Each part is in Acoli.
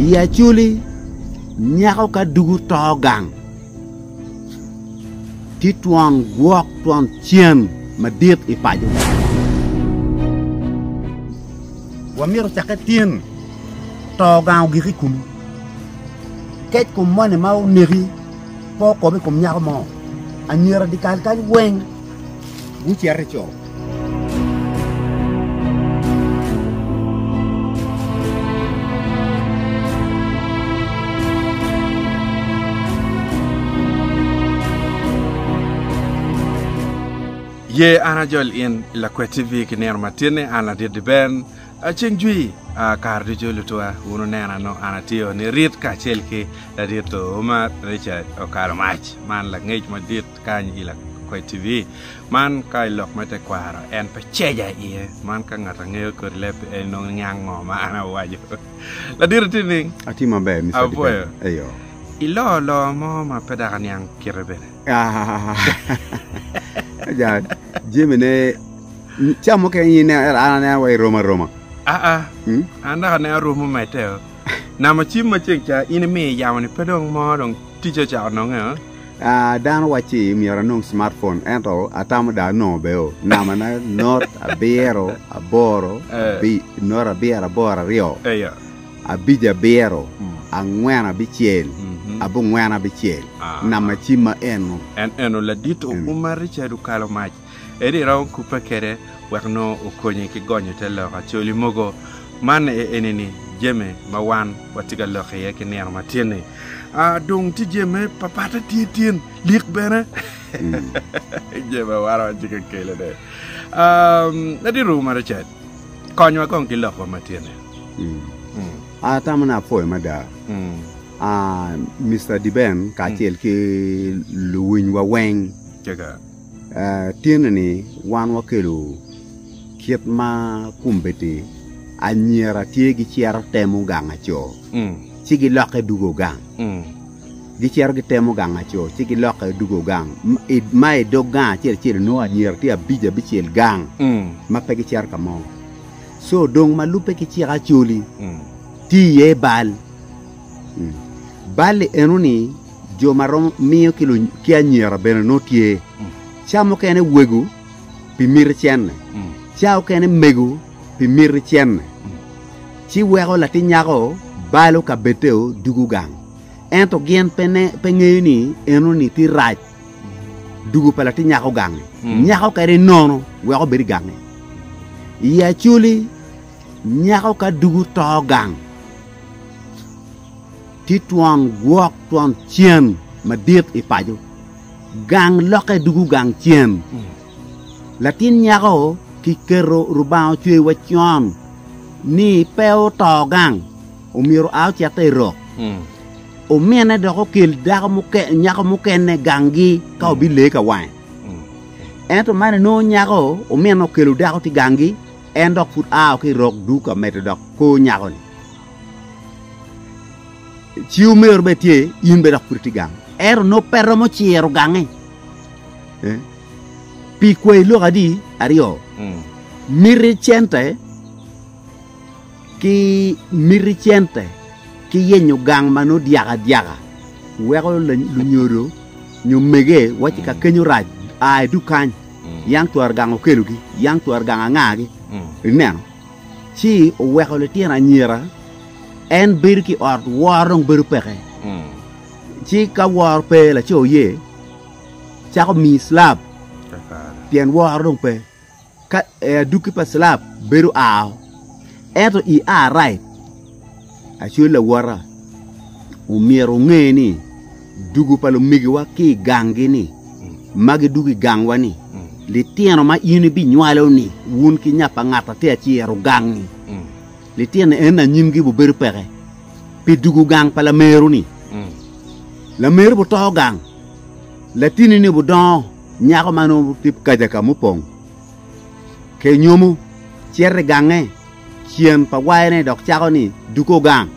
I Acholi, nyako ka dugu to gang, tye twon gwok twon cen madit i paco. Wamito cakke tin to gang ogik i kulu. Kec kom moni ma oneki pe okobe i kom nyako mo, anyira dikal kany weng. gucito i co. Ye an ajol in i Lakwet TV ki nino ma tinni an ladit diben ceng jwi a kare ducu lutwa wun onena no an atiyo ni rit kacel ki ladit Umar Richard Okalo Mac man langec madit kany i Lakwed TV. Man ka i lok me tekwaro en pe ceja iye. Man ka ngat angeyo kodi leb en nongo niang ngo ma an awaco. Ladito ti ni. Ati maber Mr. Apoyo. Eyo. Ilo lo mo ma pe daka niang kite bene. Ja Jimmy ne cam mo keng ine an anea wa i Roma Roma. Aa. Hmm? An daka ne aromo mete. Namo cim ma ceng ca in imiyo i yamo ni pe dong mo dong ticce ocako nonge oo. Aa dano wacci myero anong smart phone ento atamo dong anongo bene oo. Nama na not abiro aboro abi not abiro aboro aryo Eya. abic abiro angwen abicel Mhm. abongwen abicel. Aa. Nama cim ma eno. En eno ladit o Eno. uma Richard okalo mac. Ento iromo kubbe kede wek nongo okonyi ki gonyo te lok acoli mogo man aye enini, Jami ma wan watye ka lok iye ki nino ma tye ni, a dung tye jami me papatte tye tin lik bene jami ma wan watye ka kelo ne. A ladit Ruma Richard, konywa kong ki lokwa ma tye ni. A tamo ne apwoyo mada a Mister Diben kacel ki luwinywa weng. Kika. Tyene-ni wan wakelo kit ma kombeddi anyira tye gicito temo gang aco, ci gilokke dugo gang. Gicito gitemo gang aco, ci gilokke dugo gang. M- i- Ma i dog gang acel acel onongo anyira tye abic abicel gang ma pe gicito ka mo. So dong ma lubbe ki cik acoli tye iye bal. Mm. Bal-li enoni jo ma romo miyo ki anyira bene nongo tye, ca mukene wego pi miti cente, ca okene mego pi miti cente, ci weko latin nyako balo ka beteo dugo gang. Ento gin pe ngeyo ni enoni ti rac dugo pa latin nyako gangi, nyako kadi nono wek obed i gangi. I Acholi, nyako ka dugo to gang. Tye twon gwok twon cem madit i paco. Gang lokke dugu gang cem. Latin nyako ki keto Rubanga ocweyo wa con ni pe oto gang omyero a ocette i rok. Omine dok okel dako muke, nyako mukene gangi ka obi lee ka wange. Ento man enongo nyako omine okelo dako ti gangi en dok pud ao ki rok duka medo dok ko nyako ni. Ci omero bene tye, in bene dok pud itye gang. Ento nongo pe romo ciro gange. Eh? Pi kwayi lok adi aryo, miti cente ki miti cente ki yenyo gang ma nongo dyaka adyaka weko la- lunyodo nyo mege wacci ka kenyo rac a i dukany, yam twero gang okelogi, yam twero gang angagi. Ineno? ci oweko litino anyira, en bedo ki i ot, woro dong bedo peke. Ci ka woro pe, laco oye cako miyi cilab, pien woro dong pe. Ka adukki pa cilab bedo ao, ento i a right. Acwel lawota, omyero wunge ni dugo pa lumegiwa ki i ganggi ni ma gidugo i gangwa ni litino ma in ibinywalo ni wun ki nya pa ngat ati aciro gangi. Litino en anyimgi bubedo peke pi dugo gang pa lameru ni. Lameru buto gang, latini ni budongo nyako ma nongo tye kaja ka mupong ke nyomo cito i gange Cen pa wayone dok cako ni dugo gang.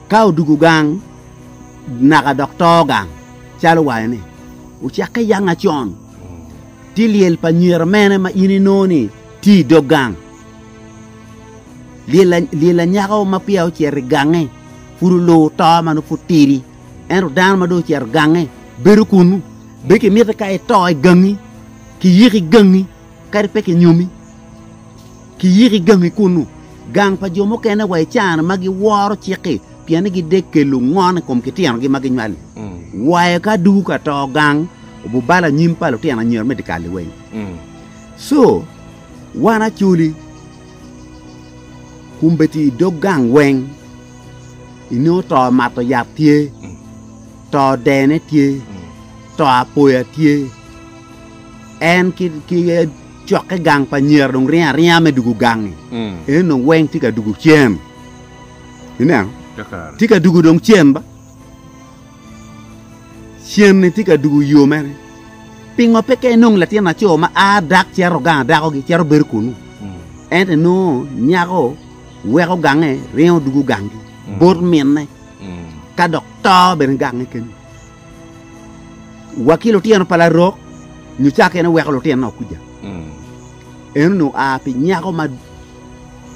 Ka odugo gang naka dok to gang, calo wayone ocakke yanga con, ti lyel pa nyera mene ma in inongo ni tye i dog gang? Lyel anyaka ma peya ocito i gange pud oluwo to ma nongo pud tidi. Ento dano ma dong ocito gange bedo kunnu. Be kimiti ka ito i gangi, kiyiki gangi? Kadi pe kinyomi, kiyiko i gangi kunnu. Gang pa jo mukene wa i caa-ni ma giworo cik-ki pien ni gidek kelo ngon i kom kityenogi ma ginywali. Wayo ka dugu ka to gang obubalo anyim pa lutino anyira me dikal-li weng. Co wan acoli kumbeti i dog gang weng inongo to mato yat tye. To dene tye, to apoya tye, en ki cokke gang pa nyera dong ringo aringa me dugo gangi, en dong weng tye ka dugo cen. Ineno? Tye ka dugo dong cen ba. Cen-ni tye ka dugo yo mene. Pingo pe ka inong latin laco ma a dak cero gang dakogi, cero bedo kunu, ento inongo nyako weko gange ringo dugo gangi bot minne. ka dok to bene gange kenyo. Wa ki lutino pa larok nyo cake en oweko lutinona okuja. Mm. En onongo a pi nyako ma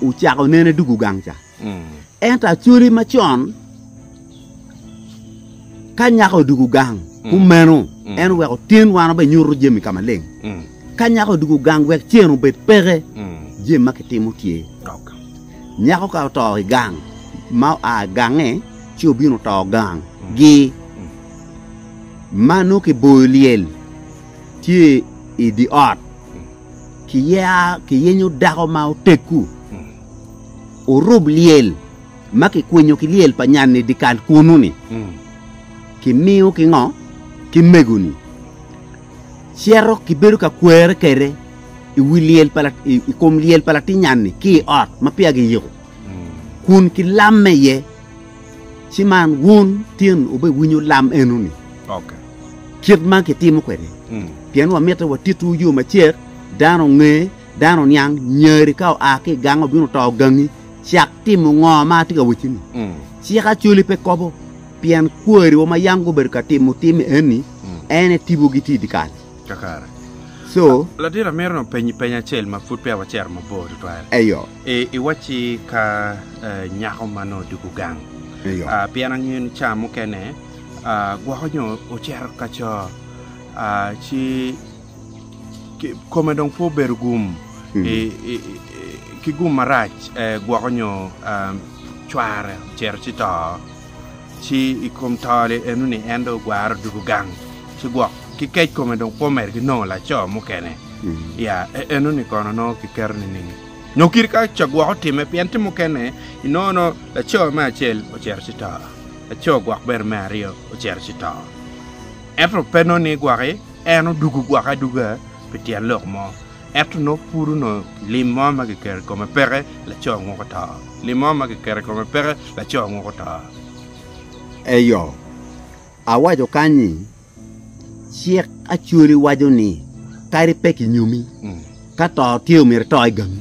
ocako nene dugu gang ca. Mm. Ento acoli macon ka nyako dugu gang mm. kumeno mm. en oweko tin wan obe nyuto jami ka maleng. Mm. Ka nyako odwogo gang wek cen obed peke, jami ma kitimo tye. Nyako ka oto i gang ma oa i gange ci obino oto gang gi ma nongo kiboyo lyel tye i dye ot, kiyenyo dako ma oteggu, orub lyel ma kikwinyo ki lyel pa nyan-ni dyekal kunu-ni, kimiyo ki ngo? Ki mego-ni. cito ki bedo ka kwere kede i wi lyel pa i kom lyel pa latinyanni ki i ot ma peya giyiko kun ki lamme iye ci man wun tin obe winyo lam eno ni kit man kitimo kwede pien wamitte watitu yo macek dano nge dano niang nyeri ka oa ki gang obino to gangi cak timo ngo ma atye ka wacci ni cik acoli pe kobo Pien kwariwa ma yam gubedo ka timo timme eni, en aye tibogi tye i dyekal. Kakare. Co. Latin, amito nongo penyi peny acel ma pud peya wacito mabor tutwal. Eyo. I, iwacci ka nyako ma nongo dugo gang. Eyo. Ah, pien angeyo ni ca mukene ah, gwoko nyo ocito ka co ah, ci ki, kome dong pe obedo gum i, i, i, ki gum marac eh, gwoko nyo ah, cware ocito ci to. ci i kom to li eno ni en dong ogwaro dugu gang ci gwok ki kec kome dong kwo mere ki nongo laco mukene ya eno ni kono nongo ki keto ni ning nyo kit ka ca gwok otime pien ti mukene i nongo no laco me acel ocito ci to laco gwok bene me aryo ocito ci to ento pe nongo ni gwoki eno dugu gwoki aduga pi tyen lok mo Ento nongo pud onongo lim mo ma kiketo i kome peke, laco anguko to. Lim mo ma kiketo i kome peke, laco anguko to. Eyo, awaco kany ni, Cik Acholi waco ni kadi pe kinyomi, ka to tye omyero ito i gangi.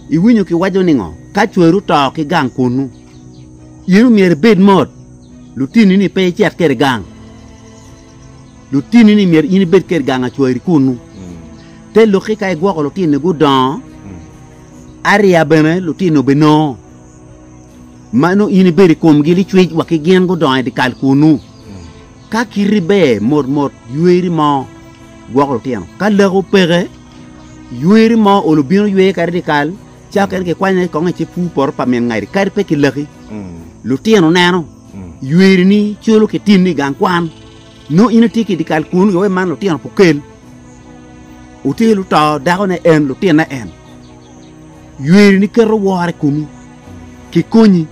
Iwinyo kiwaco ningo? Ka cwari oto ki gang kunnu, in omyero ibed mot, lutinni-ni pe icit kwede gang. Lutini ni myero in ibed kede gang acwari kunnu. Te lokki ka igwoko lutini gudongo ariya bene lutini obinongo ma nongo in ibedo i komgi licwic wa ki gin gudongo i dikal kunnu. Ka kiti ber mot mot yweri mo gwoko lutino. Ka laki opeke yweri mo olo bino ywe kadi dikal cawa kene kikwanye kong i cipwu poto pa min ngati kadi pe ki laki lutino neno Ywerini colo ki tinni i gang kwan. Nongo in itye ki i dyekal kunu i oe man lutino pe okel. Wutir luto dakone en, lutinne en. Ywerini keto woro i komi, kikonyi.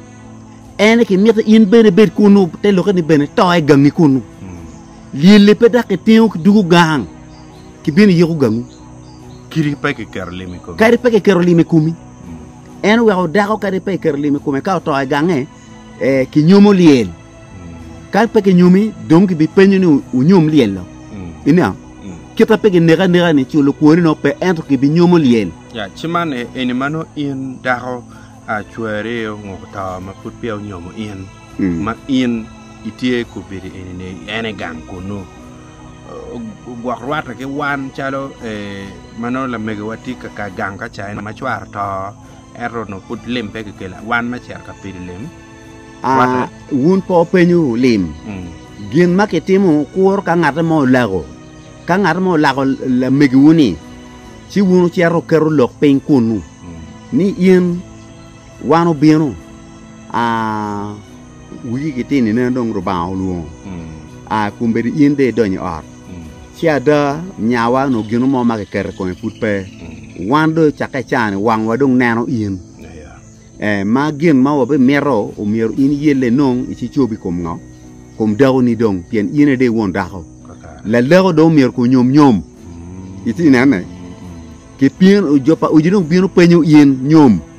Ene kimito in bene ibed kunu, te lokke ni bene to i gangi kunu. Lyelli pe dok kitingo ki dugo gang, kibino iyiko gangu. Kadi pe kiketo lim i komi. Kadi pe kiketo lim i komi. En oweko dako kadi pe kiketo lim i kome ka oto i gange. ee, kinyomo lyel. Ka pe kinyomi, dong kibipenyo ni wunyom lyel-lo. Ineno? Kit ma pe kineki aneka-ni, ci lukwoni nongo pe, ento kibinyomo lyel. Ya, ci man e, eni ma nongo in dako a cwari ongoko to ma pud peya onyomo in, ma in itye i kobedo eni ni en i gang kunnu, o- ogwok rwatte ki wan calo ee, ma nongo lamegiwa tye ka ka gang ka caine ma cware oto, ento onongo pud lim pe kikelo wan me cito ka pido lim. Aa, wun pe wupenyo lim. Mm. Gin ma kitimo kuro ka ngat mo olako, ka ngat mo olako lamegiwu-ni, ci wun wucito wuketo lok piny kunnu, mm. ni in wan obino, aa, Wigi gitino ineno dong Lubanga olwongo, a, kombeddi in dong idony i ot. Ci ada, nyawa onongo gino mo ma kiketo i kome pud pe. Wan dong cakke i caa-ni wangwa dong neno in. Ee, ma gin ma wabimito omyero in iyelle inong icicobi i kom ngo? I kom dakoni dong, pien in aye dong i won dako. Laleko dong omyero kong nyom nyom. Iti inene? Kipyeno jo pa odi dong bino penyo in nyom.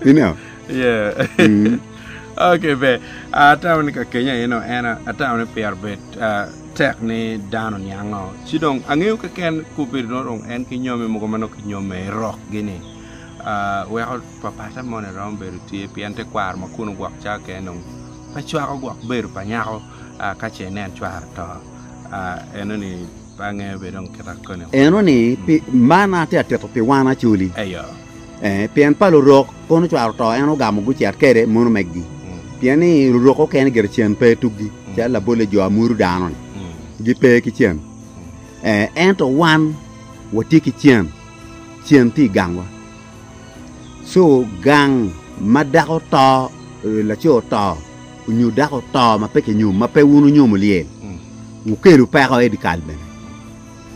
Ineo? Yeah. okay, be. Atamo ni ka kenya eno en atamo ni pyer bet uh, tek ni dano niango. Ci dong angeyo keken kubedo no dong en ki nyomi mogo ma nok kinyome rok gini. Uh, weko papata moni rom bedo tye pien te kwaro ma kuno gwok ca keken dong pe cwako gwok bedo pa nyako uh, ka ce nen cwaro to uh, eno ni Eno ni, pi man atye ka tito pi wan acoli, ee, pien pa lurok kono ocwaro to en ogamo gucit kede mono megi, pien ni lurok okene gire cen pe tuggi, calo labolle jo a muru dano-ni gipe ki cen, ee, ento wan watye ki cen, cen tye i gangwa. Cu gang ma dako to, laco oto nyo dako oto ma pe kinyomo, ma pe wun wunyomo lyel, wukelu peko i dyekal bene.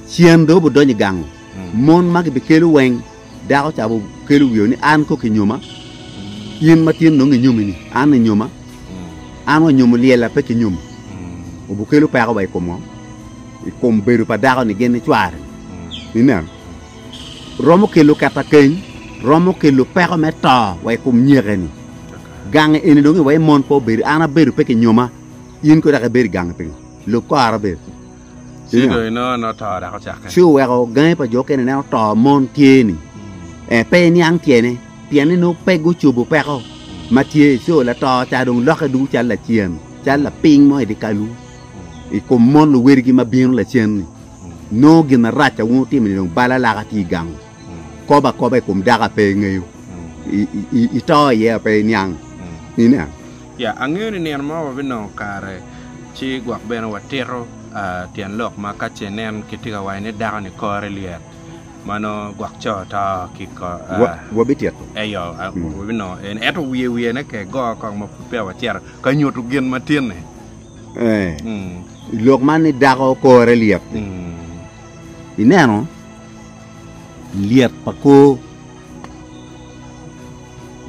Cen dong wubidonyo i gang-ngu, mon ma gibikelo weng dako ca bukelo wio ni, 'An kok inyoma, in ma tin dong inyomi-ni, an inyoma, an wa nyomo lyel-la pe kinyomo. Wubikelo peko wa i kom ngo? I kom bedo pa dako-ni gin nicware-ni. Ineno? romo kelo ketakeny, romo kelo peko me to wa i kom nyeke-ni. Gange eni dong iwee mon pe obed, an abedo pe kinyoma, in kono dok ibedo i gange pingo? Lub kora bene. Ci dong inongo nongo to dok ocakke. Ci oweko gangi pa jo okene nen oto, mon tye-ni. Eh, pe iniang tyene, pienni nongo pe gucobo peko ma tye. Co lato ca dong lokke ducu calo lacen, calo lapiny mo i dyekalu, i kom mon luwedigi ma bino lacen-ni. Nongo gin marac a wun wutimo-ni dong bal alaka tye i gangu. Kobo akoba i kom dako a pe ingeyo, ito iye a pe iniang. Ineno? Ya, angeyo ni nino mo wabinongo kare, ci gwok bene watito tyen lok ma ka ce nen kitye ka waco ni dako-ni kore lyet, ma nongo gwok co to ki kore. Wabitito. Eyo, wabinongo en. Ento wiye wiyene ke go kong ma pud peya wacito ka nyuto gin matinni. I lok man ni dako kore lyet. Ineno lyet pa kor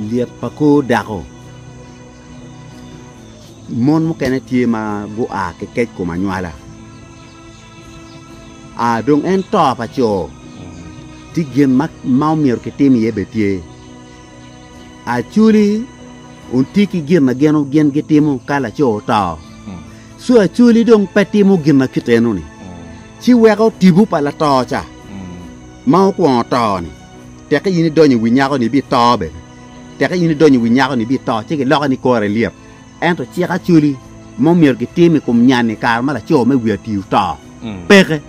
lyet pa kor dako. Mon mukene tye ma gua ki kec kom anywala. A dong en to pa co tye gin ma omyero kitim iye bene tye. Acholi ontye ki gin ma gin gitimo ka laco oto, ci acholi dong pe timo gin ma kit enoni, ci weko tipo pa lato ca ma okwongo to-ni. Teka in idonyo i wi nyako-ni ibito bene, teka in idonyo i wi nyako-ni ibito, ci giloke ni kore lyet. Ento cik Acholi ma omyero gitim i kom nyan-ni i kare ma laco me wi ati oto, peke.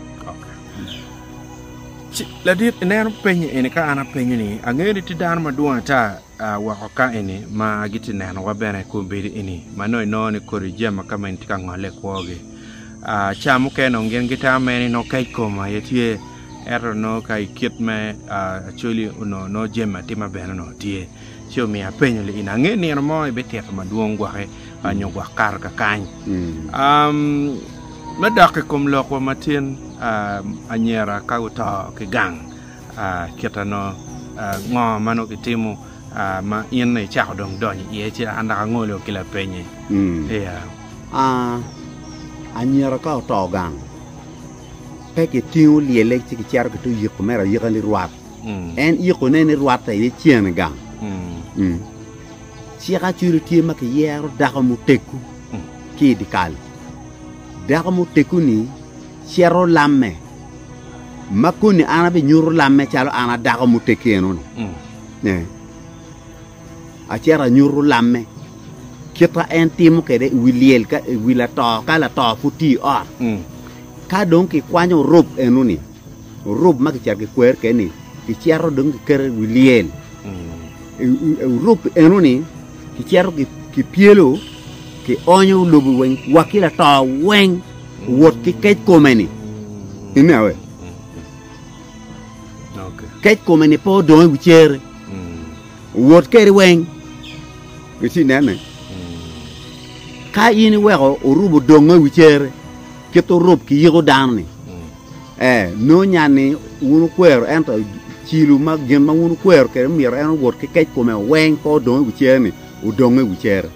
Ci ladit ineno penye eni ka an apenyo ni, angeyo ni tye dano madwong ata woko ka eni ma gitye nenowa bene i kom bedo eni ma nongo inongo ni kodi jami ma kama eni tye ka ngole i kwogi. Ca mukene nongo gin gitamo mere ni nongo kec kom aye tye, ento nongo ka i kit me Acholi onongo nongo jami atima bene onongo tye. Ci omiyo apenyo li in, Ange nino mo ibitito madwong gwoki nyo gwok kato kakany? Me dok i kom lokwa ma tin, anyira ka guto ki gang kit ano? Ngo ma nongo kitimo ma in icako dong donyo iye ci an dok angolo ki lapenye? Anyira ka oto gang, pe kitingo lyelle ci kicito kite oyiko mere ayika ni rwat. en ikone ni rwatte aye cene gang. Cik acwilo tye ma kiyero dako muteggo ki i dyekal. Dako muteggo-ni cito lamme, ma koni an abinyuto lamme calo an a dako muteggi eno-ni. Acito anyuto lamme kite en timo kwede i wi lyel i wi lato ka lato pud tye i ot. Ka dong kikwanyo rop eno-ni, Orub ma kicito kikwer keni kicito dong kiketo i wi lyel, orub eno-ni kicito kipyelo kionyo lobo weng wa ki lato weng owot ki kec kome-ni. Ine awe? Kec kome-ni pe odong i wi cere, owot kede weng. Eci inene? Ka in iweko orub odongo i wi cere, kit orub kiyiko dano-ni, Ee, nongo nya ni wun wukwero, ento cilo ma gin ma wun wukwero kwede myero en owot ki kec kome weng pe odong i wi cere-ni, odong i wi cere.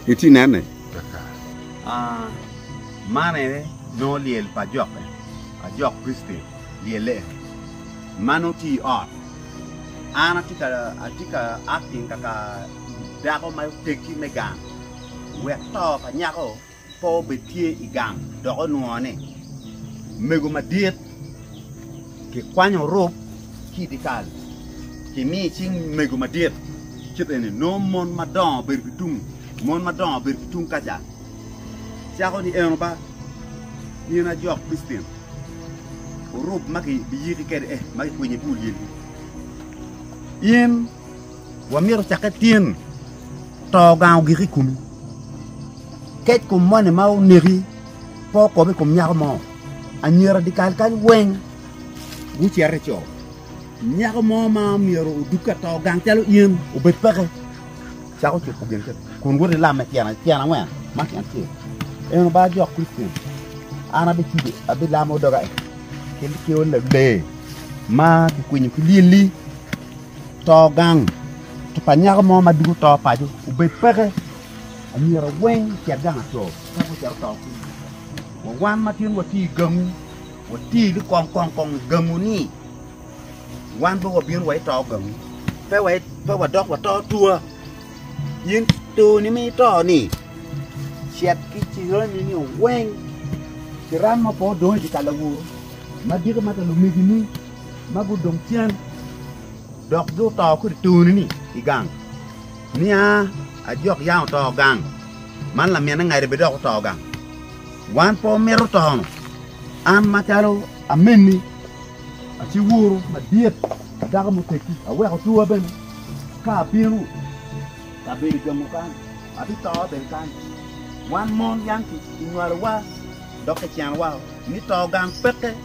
Itye ka nene? Man aye nongo lyel pa ajokke, ajok Kricityen lyelle eni. Man nongo tye i ot, an atye ka atye ka acting kaka dako ma oteggi me gang wek to pa nyako Pe obed tye i gang dok onwongo ni mego madit kikwanyo rub ki i dyekal kimiyo i cing mego madit kit eni nongo mon madongo bedo ki tung mon madongo bedo ki tung kaca cako ni eno ba in ajok pistin orub ma kibiyiki kede eh ma kikwinyo i bur lyelgi in Wamito cakke tin, to gang ogik i komi. Kec kom moni ma oneki pe okop i kom nyako mo. Anyira dikal kany weng gucito i co. Nyako mo ma myero odug ka to gang calo in obed peke. Cako cuko gin kiti kun wot ilame tyen tyen angwen ma tyen acel. En oba jok Kricen. An abicudo abilamo doga i kit kiewa lee ma kikwinyo ki lyelli To gang pa nyako mo ma dwogo to paco obed peke anyira weng ocit gang aco ka gucito to kunu wa wan ma gin watye i gangu watye ni kong kong kong i gangu ni wan pe wabino wa ito gangu pe wadok wato atua in toni ma ito ni cit ki cirani ni weng kiram ma pe odong i dye ka lawo madito ma ka lumegini. ma gudong cen dok guto kodi toni-ni i gang. Nia ajok yam oto gang, man laminne ngade bene dok oto gang. Wan pe wamito tono, an macalo amenni a ci wuru madit a dako muteggi, aweko twowa bene ka abino ka bedo i gengo kany, abito bene kany. Wan mon yam kinywalowa dok kicenowa ni to gang peke.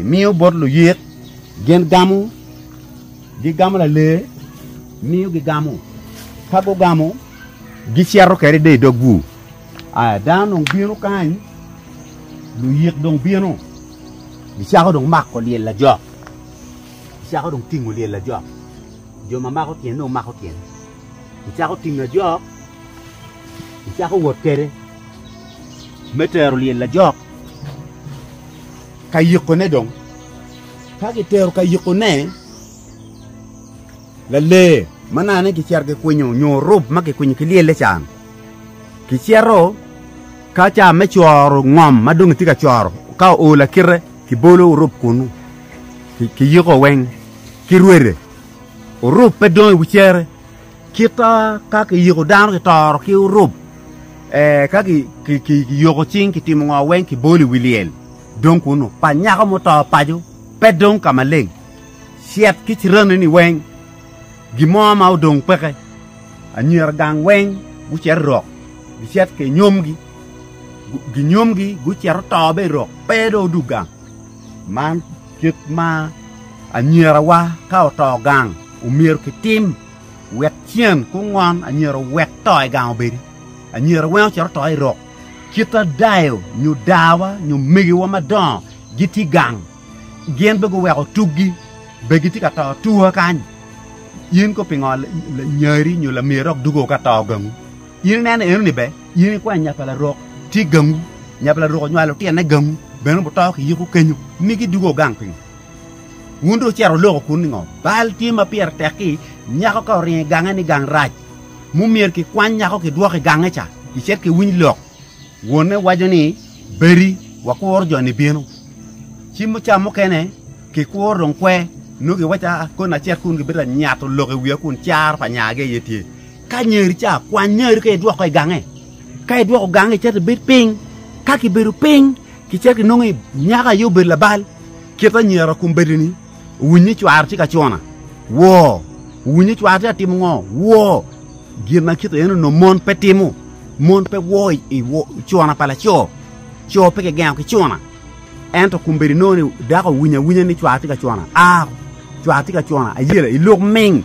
Imiyo bot luyik gin gamo, gigamo lalee, miyo gigamo. Ka gugamo, gicito kede de i dog bur. Aya, dano dong bino kany, luyik dong bino, gicako dong mako lyel lajok, gicako dong tingo lyel lajok, jo ma mako tyene dong mako tyene, gicako tingo ajok, gicako wot kede me tero lyel lajok. ka yikone dong. Ka gitero ka yikone, lalee ma nane gicito gikwinyo nyo rub ma gikwinyo ki lyelle can, gicito ka ca me coro ngom ma dong itye ka coro, ka oo lakite kibolo orub kunu ki yiko weng ki rwede, orub pe dong i wi cere. Kit ka kiyiko dano kitoro ki orub, ka kiyoko cing kitimo ngo weng kibolo i wi lyel dong kunu pa nyako muto paco pe dong ka maleng, cit ki ciraneni weng gin mo ma odong peke. Anyira gang weng gucito i rok gicit ki nyomgi, ginyomgi gucito to bene i rok pe dong odug gang. Kit ma anyirawa ka oto gang omyero kitim wek cen ku ngon anyira owek to i gang obedi. Anyira weng ocito oto i rok. Kit ma dayo nyo dawa nyo megiwa madongo gitye i gang, gin be guweko tuggi be gitye ka to atua kany. In kono pingo lanyari nyo lamiri dok dugo ka to gangu? In ineno enoni be? In ikwan nya pa larok tye gangu, nya pa larok onywalo lutine gangu, bene wuto ki yiko kenyo, ni gidwogo gang pingo? Wun dong wucito wuloko kun ningo? Bal tye ma pire tek-ki nyako ka oringo i gange ni gang rac, mo myero kikwany nyako kidwoko i gange ca, kicit kiwiny lok. Wonne waco ni, 'Bedi, wakuro jo-ni bino. Ci muca mukene kikuro dong kwe, nongo giwaco koni acel kun gibito ka nyato lok i wiya kun caro pa nya-gi aye tye. Ka nyeri ca, kwany nyeri ka idwoko i gange. Ka idwoko gange, icito ibed piny. Ka kibedo piny, kicito inongo nyako aye obedo labal. Kit anyira kum bedini, owiny ni cware tye ka cuna. Woo! Owiny ni cware tye ka timo ngo? Woo! Gin ma kit eno no mon pe timo. Mon pe woo i cuna pa laco. Co pe kigengo ki cuna. Ento kum bedi nongo ni dako owinyo awinya ni cware tye ka cuna. Aa! Cware tye ka cuna. Ayela, iluk ming.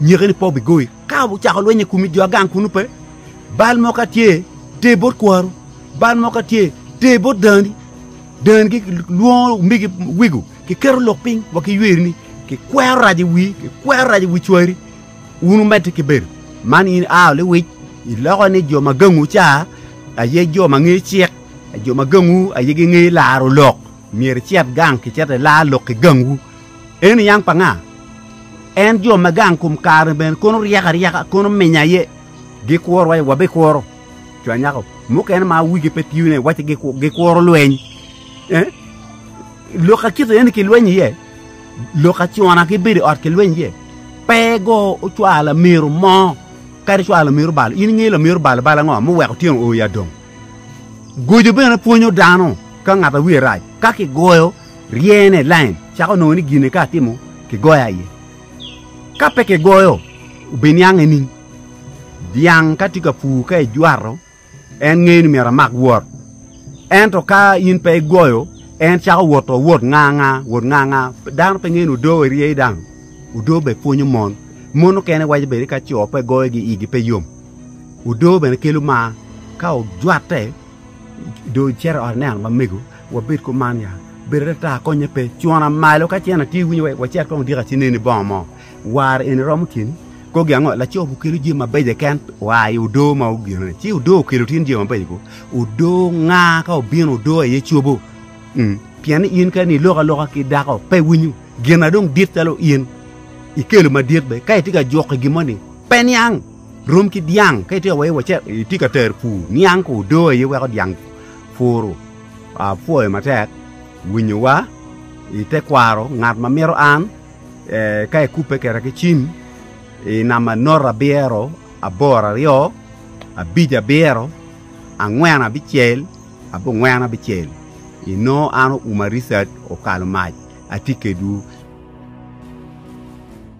nyeke ni pe obigoyi. Ka ocako lweny i komi jo agang kunu pe, bal mo ka tye, ter bot kwaru, bal mo ka tye, ter bot dani, dani ki lwongo omigi wigo, kiketo lok piny wa ki ywerini, kikwero rac i wi, kikwero rac i wi cwari, wun wumedde ki bedo. Man in a lewic, iloko ni jo ma gangu ca aye jo ma ngeyo cik, jo ma gangu aye gingeyo laro lok, myero icit gang kicito ilar lok ki gangwu. En i yang pa nga? En jo ma gang kom kare bene kono ryeko aryeka, kono minya aye. Gikuro wa, wabikuro. Co anyaka mukene ma wigi pe tiyo ne wacci gikuro lweny. Eh? Lok akito eni kilweny iye. Lok acona gibedo i ot kilweny iye. Pe go ocwalo amiru mo kadi cwalo amiru balo. In ingeyo lamiru balo balo ango muweko tyeno o i adong? Gojo bene pwonyo dano ka ngat a wiye rac. Ka kigoyo ryene, lain, cako nongo ni gine ka atimo kigoyo aye. Ka pe kigoyo, obiniang i ning? Dyang ka tye ka pur ka ijwato, en ngeyo ni myero amak wot. Ento ka in pe igoyo, en cako wot to wot nga nga, wot nga nga. Dano pe ngeyo ni odoo i ryei dang. Odoo bene pwonyo mon. Mon okene waco bene ka co pe goyo gi igi pe yom. Odoo bene kelo mar. Ka ojwatte, dong icito i ot ineno mamego. Wabed kuman ya. Bedo atata konye pe. Cwona malo ka cen atye winyo wek wacit kong odika ci neni bongo mo. War eni romo tyeni? Kogi ango? Laco bu kelo jami mabeco keken oa i odoo ma ogine ni. Ci odoo okelo tin jami mabeco go. Odoo nga ka obino odoo aye cobo. Umm. Pien ni in kadi ni iloko aloka ki dako pe winyo gin na dong dit calo in ikelo madit be. Ka itye ka juko i gin mo ni pe niang. Rom ki dyang. Ka itye ka wai wacit, itye ka tero pur, niang ko odoo aye weko dyang. Puru. Apwoyo matek winyowa i te kwaro ngat ma mito an ka ikubbe keda ki cim i namba note abiro aboro aryo abic abiro angwen abicel abongwen abicel inongo an Umar Richard Okalomac atye kedwu.